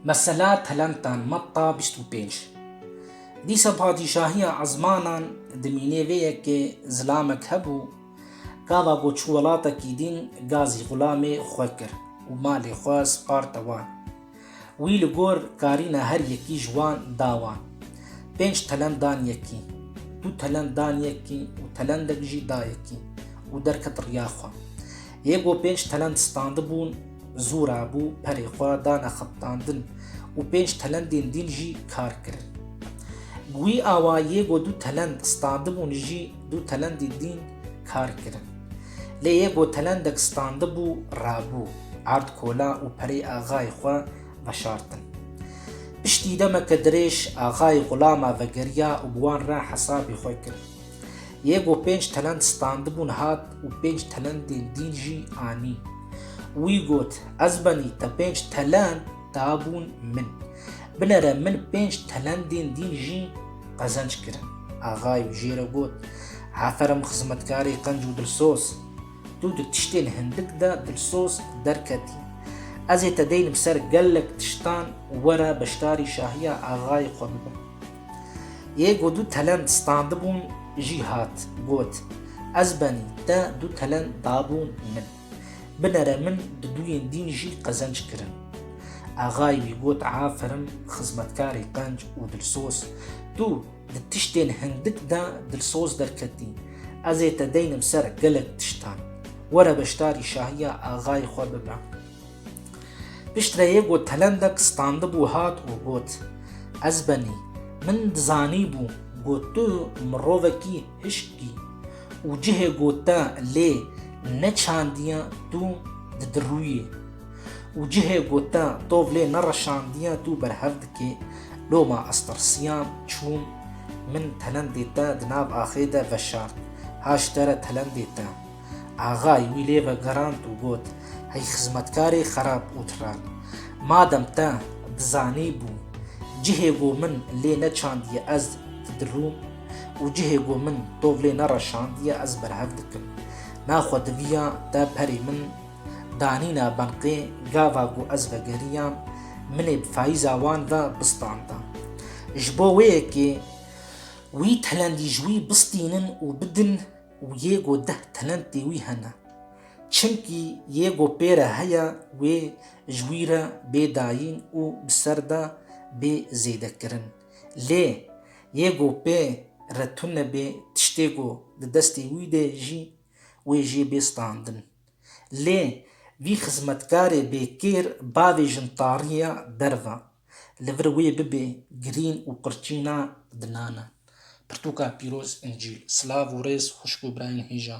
Mesela Telentan, Matta bîst û pênc. Dîsa padîşahiya ezmanan dimînê vê yekê zilamek hebû, gava ku çû welatekî dîn ga zî xulamê xwe kir û malê xwe sparte wan. Wî li gor karîna her yekî ji wan da wan. Pênc telent dan yekî, du telent dan yekî û telendek jî da yekî û derket riya xwe. Yê ku pênc telend standibûn zûra bû perê xwe dane xiptandin û pênc telendên dîn jî kar kirin. Guî awa yê ku du telend standibûn jî du telendên dîn kar kirin. Lê yê ku telendek standibû rabû erd kola û perê axayê xwe veşartin. Piştî demeke dirêj axayê xulama vegeriya û bi wan re hesabê xwe kir. Yê ku pênc telend standibûn hat û pênc telendên dîn jî anî. Wî got, Ez benî te pênc telend dabûn min. Binere min pênc telendên dîn jî qezenc kirin. Axayê wî jê re got, Aferim xizmetkarê qenc û dilsoz. Tu di tiştên hindik de dilsoz derketî. Ez ê te deynim ser gelek tiştan were beşdarî şahiya axayê xwe bibe. Yê ku du telend standibûn jî hat, got, Ez benî te du telend dabûn min. Binere min di duyên dîn jî qezenc kirin. Axayê wî got, Aferin xizmetkarê qenc û dilsoz, tu di tiştên hindik de dilsoz derketî. Ez ê te deynim ser gelek tiştan. Were beşdarî şahiya axayê xwe bibe. Piştre yê ku telendek standibû hat û got, Ez benî, min dizanîbû ku tu mirovekî hişk î û cihê ku te lê neçandiye tu didirûyê û cihê ku te tov lê nereşandiye tu berhev dikê, loma ez tirsiyam, çûm, min telendê te di nav axê de veşart, haştere telendê te. Axay wî lê vegerand û got, Hey xizmetkarê xerab û tiran! Madem te dizanîbû cihê ku min lê neçandiye ez didirûm û cihê ku min tov lê nereşandiye ez berhev dikim. Naxwe diviya te perê min danîna benqê gava ku ez vegeriyam, min ê bi fayîza wan ve bistanda. Ji bo wê yekê wî telendî ji wî bistînin û bidin û yê ku deh talentê wî hene. Çimkî yê ku pê re heye wê ji wî re bê dayîn û bi ser de bê zêdekirin. Lê yê ku pê re tune bê tiştê ku di destê wî de jî wê jê bê standin. Lê vî xizmetkarê bêkêr bavêjin tariya derve. Li vir wê bibê girîn û qurçîna di nana. Pirtûka pîroz, Încîl. Silav û rêz xwişk û birayên hêja.